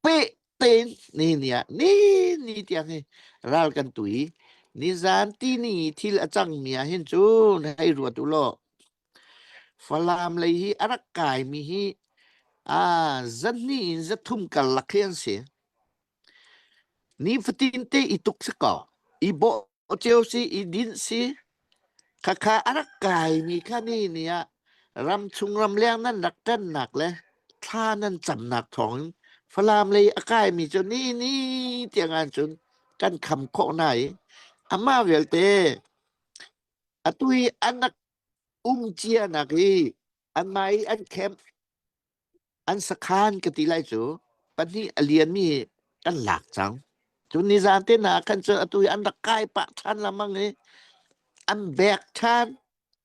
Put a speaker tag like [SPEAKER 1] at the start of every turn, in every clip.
[SPEAKER 1] peh tein ni ni ah ni ni tiang hi ral kan tui nizan ti ni thil a cangmi ah hin cun hei ruat u law Falam lei hi a rak kaimi hi aa zahnih in zathum karlak khi an si ni fatin te i tuk si kaw i bawh Oceo si i din si khakha a rak kai mi kha ni ni ah ram chung ramleng nan rak ṭannak le thla nan camnak thawng in Falam lei a kai mi cu ni ni tiang cun kan kham khawh na i amah vialte atu i an rak um cianak hi an mah i an camp an sakhan ka ti lai cu pahnih a lianmi hi kan lak cang cu nizan te hna khan cu atu hi an rak kai pah ṭhan lamang i an bek ṭhan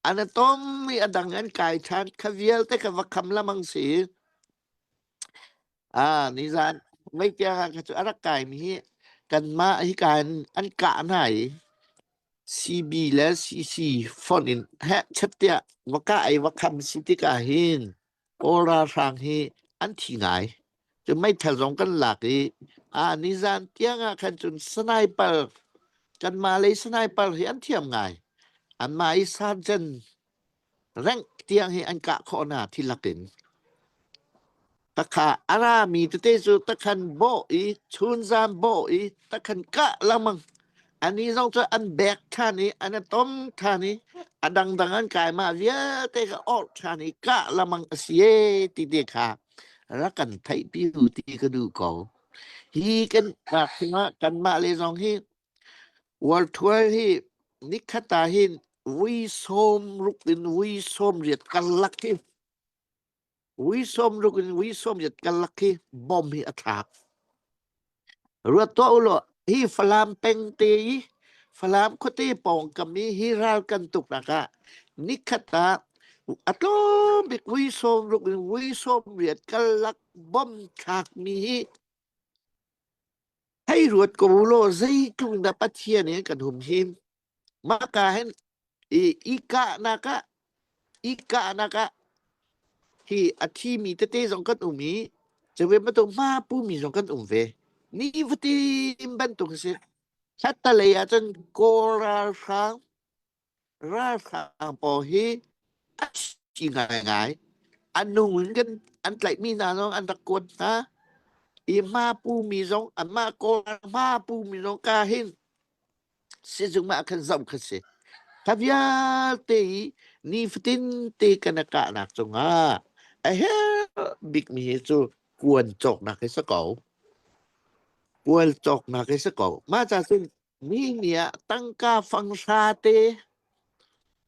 [SPEAKER 1] an atom i a dang an kai ṭhan kha vialte kha va kham lamang si ah nizan meikiang kha cu a rak kaimi hi kanmah hi kan an kah hna i CB le CC fonh in heh chattiah va kah i va kham si tikah hin Kawl ralhrang hi an thi ngai. Cu meithal zong kan lak i a nizan tiang ah khan cun sniper kanmah lei sniper hi an thiam ngai. Anmah i sergeant rank tiang hi an kah khawh hna thi lakin takha ara mi tete cu takhan bawh i chunzam bawh i takhan kah lengmang Ani zong cu an bek ṭhan i an i tom ṭhan i a dangdang an kai. Mah vialte ka orh ṭhan i kah lamang a si ee ti te kha rak kan theihpi u ti ka duh ko. Hi kan ah cungah kanmah le zong hi Worldwide hi nikhat ah hin vui sawm ruk in vui sawm riat karlak hi Ui som ruk in ui som yat kal laki bom hi athak. Ruat to ulo hi falam peng te i falam khote pawng kami hi ral kan tuk naka nikhata atlom bik ui som ruk in ui som riat kal lak bom thak mi hi hei ruat ko ulo zeitlung da pathian e kan hum him Maka hin i ikahnak ah ikahnak ah hi a thimi tete zong kan um i cawe matung ma pumi zong kan um ve ni vatim bantuk a si thattalei ah cun kawl ralhrang ralhrang pawl hi a si ngaingai a nung in kan an tlaihmi hna zong an rak kuat hna i ma pumi zong a ma kawl ma pumi zong ka hin sizung ah khan zoh kha si tha vialte i nifatin te kan a kahnak cungah a her bikmi hi cu kuan cawknak hi sa ko kual cawknak hi sa ko mah ca cun mi nih ah tangka fang hra te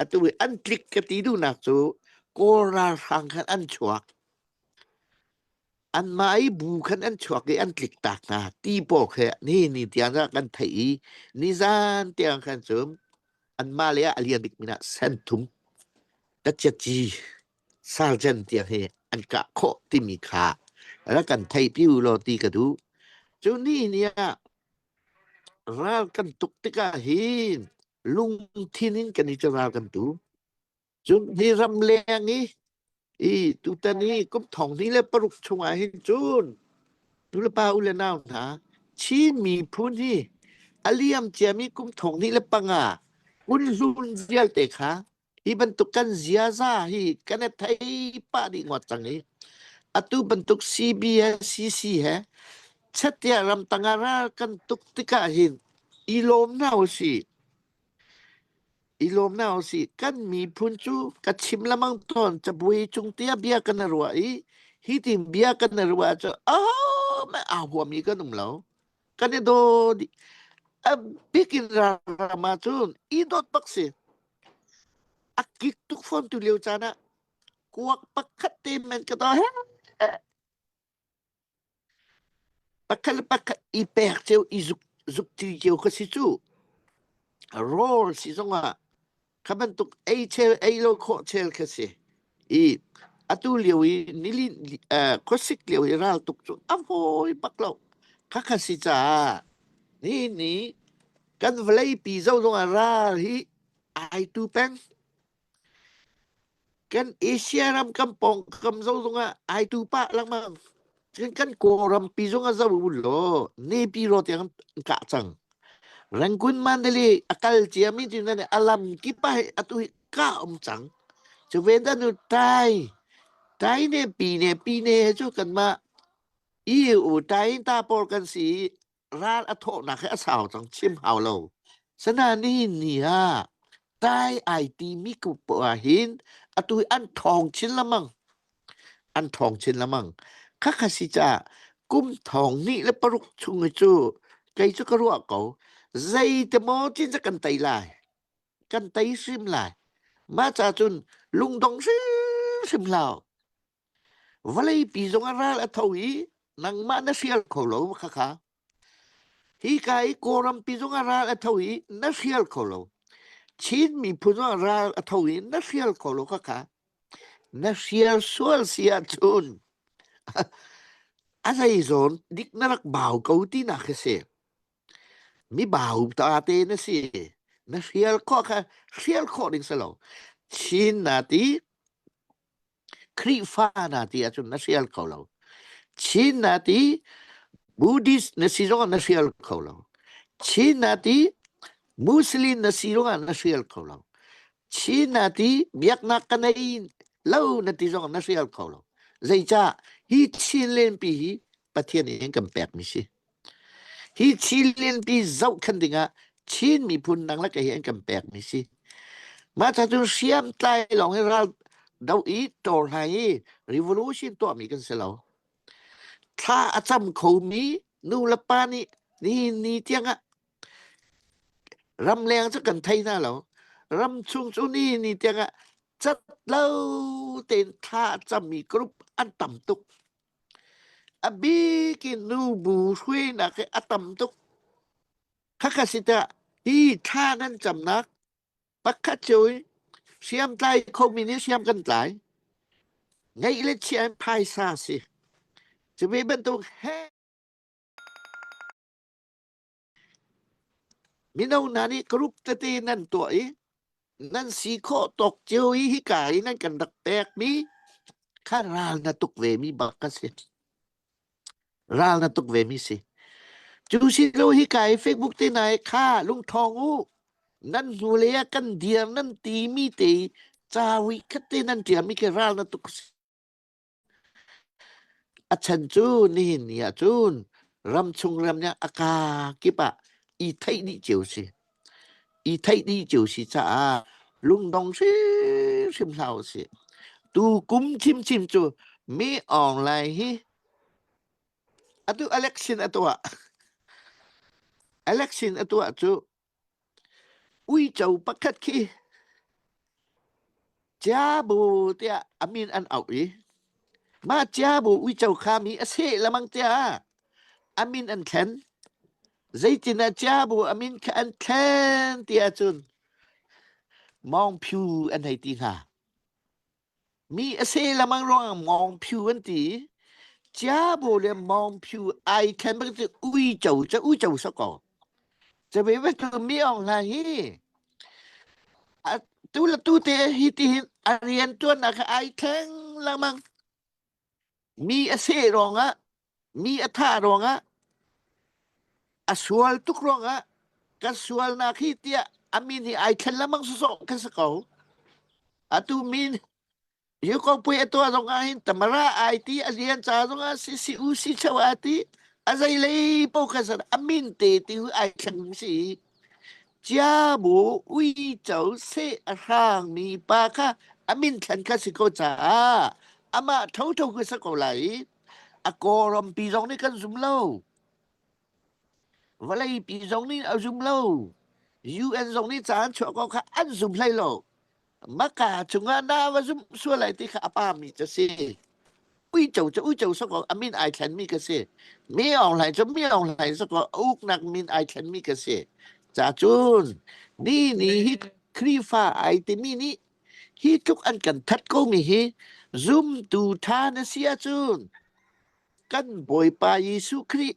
[SPEAKER 1] Atu i an tlik ka ti duhnak cu Kawl ralhrang khan an chuak. Anmah i bu khan an chuak i an tlik tak hna ti paw khe ni ni tiang kha kan theih i nizan tiang khan cu anmah le ah a lian bik min ah senthum tachiaci sarjan tiang hi an kah khawh timi kha rak kan theih pi u law ti ka duh. Cu ni ni ah Ral kan tuk tikah hin lungthin in kan i ral kan tu. Cun hi ram leng i i tutan i kum thong ni le paruk chungah hin cun tu le pa u le nau hna Chin miphun hi a liam ciami kum thong ni le panga un hlun vialte kha Hi bantuk kan ziaza hi kan e thei pah dih ngawt cang i atu bantuk CBSCC he chatia ramtang ah ral kan tuk tikah hin i lawm na u si i lawm na u si kan miphun cu ka chim lamang ton cabuai cung tia bia kan ruah i hi tin bia kan ruah cu a me a huam i kan um lo kan i do di a bikin rama cun i dot bak si A kik tuk fawntu lio caan ah kuak pakhat te men ka daw. Pakhat le pakhat i pek ceu i zuk zuk ti cio ka si cu. Rol si zong ah kha bantuk ei chel ei lo khawh chel ka si. i atu lio i nilin khuasik lio i raltuk cu a fawi bak lo khakha si caah ni ni kan vawleipi zong ah ral hi ai tu peng kan asia ram kan pawngkam zong ah ai tu pah lengmang kan kan kawlrampi zong ah zau u law nepi ro tiang an kah cang rangun mandali a kal ciami cu nan alam kip ah atu ka um cang. Cu ve da nu tai tai ne pi ne pi ne he cu kan ma i u tai in ta por kan si ral a thawh nak he a sau cang chim hau lo. Sana ni ni ha tai ai ti mi ku po ha hin atu an thong chin la mang an thong chin la mang kha kha si cha kum thong ni le paruk chung cu kei chu ka ruah ko zei te mo chin cha kan tai lai kan tei sim lai ma cha cun lungdong sim hlau vale pi zong a ral a tho i nangmah na sial kho lo kha kha hi ka i koram pi zong a ral a tho i na sial kho lo chin mi phu zong ral a tho i na sial kho lo kha kha na sial sual sia chun a zei zawn dik na rak bau ko ti na khi si Mibau ta te na si. Na hrial khawh kha hrial khawh ding si lo. Chin na ti, Khrihfa na ti ahcun na hrial kho lo. Chin na ti, Buddhist na si zongah na hrial kho lo. Chin na ti, Muslim na si zongah na hrial kho lo. Chin na ti, biaknak ka nei lo na ti zongah na hrial kho lo. Zeicah hi Chin lenpi hi Pathian in kan pekmi si. Hi Chin lianpi zohkhenh dingah Chin miphun dang le kei hi an kan pekmi si. Mah ca cun hriamtlai lawng in ral do i ṭawrhlai i revolution tuahmi kan si lo. Thla a cam khomi nu le pa nih nihin ni tiangah ramleng cu kan thei hna lo. Ram chung cu nihin ni tiangah cat lo tein thla a cammi group an tam tuk. A bik in nubu hruainak hi a tam tuk. Khakha si tah hi thla nan camnak pakhat cio hi hriamtlai khomi nih hriam kan tlai. Ngeih le chia in phaisa si. Cu ve bantuk he Mino hna nih karuk tete nan tuah i nan si khawh tawk cio i hika i nan kan rak pekmi kha ral na tuk vemi bak kan si. Ral na tuk vemi si. Cu si lo hika i Facebook te nai kha lungthawng u. Nan hnu le ah kan dir nan ti mi te i ca ui khat te nan tiam i ke ral na tuk si. A chan cu nihin ni ahcun ramchung ramniang a kakip ah i theih dih cio a si. I theih dih cio a si caah lungdong hrimhrim hlah usih. Tu kum ṭhimṭhim cu mi online hi atu election a tuah. Election a tuah cu Uico pakhat khi Ciabu tiah a min an auh i mah Ciabu uico khami a seh lemang tiah a min an thlen. Zeitinah Ciabu a min kha an thlen ti ahcun mawngphiu an hei ti hnga. Mi a se lemang ruangah mawng phu an ti. Chia bu le mawng phu ai khen bang cu uico cu uico sakaw. Ca ve ve tu mi ong hna hi a tu la tu te hi ti hin a rian tuan na kha ai thleng lemang. Mi a seh ruangah, mi a thah ruangah, a sual tuk ruangah kan sualnak hi tiah a min hi ai thlen lemang sawsawh kan si ko. Atu min yu ko pui a tua zong ah hin tamara ai ti a rian ca zong ah si si u si chau a ti a zei lei po ka sar a min te ti hu ai thleng si Ciabu uico seh a hrangmi pa kha a min thlan kha si ko caah amah thotho ka si ko lai i a kawrampi zong nih kan zum lo. Vawleipi zong nih a zum lo. UN zong nih caan chuah ko kha an zum hlei lo. maka chungah na va zumh sual lai ti kha a pa mi ca si uico cu uico sako amin ai thlen mi ka si mi ong lai cu mi ong lai sako uknak min ai thlen mi ka si cha cun ni ni hi khrifa ai timi ni hi tluk an kan that ko mi hi zumtu tha na sia cun kan bawipa Jesuh Khrih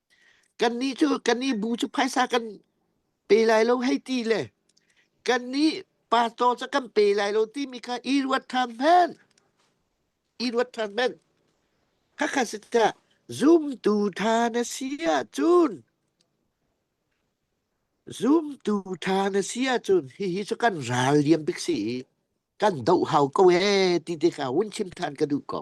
[SPEAKER 1] Kannih cu kannih bu cu phaisa kan pe lai lo hei ti le kannih pastor cu kan pe lai lo timi kha i ruat ṭhan hmanh. I ruat ṭhan hmanh. Khakha si tah zumtu ṭha na si ahcun zumtu ṭha na si ahcun hihi cu kan ral liam bik si i kan doh hau ko ee ti te kha hun chim ṭhan ka duh ko.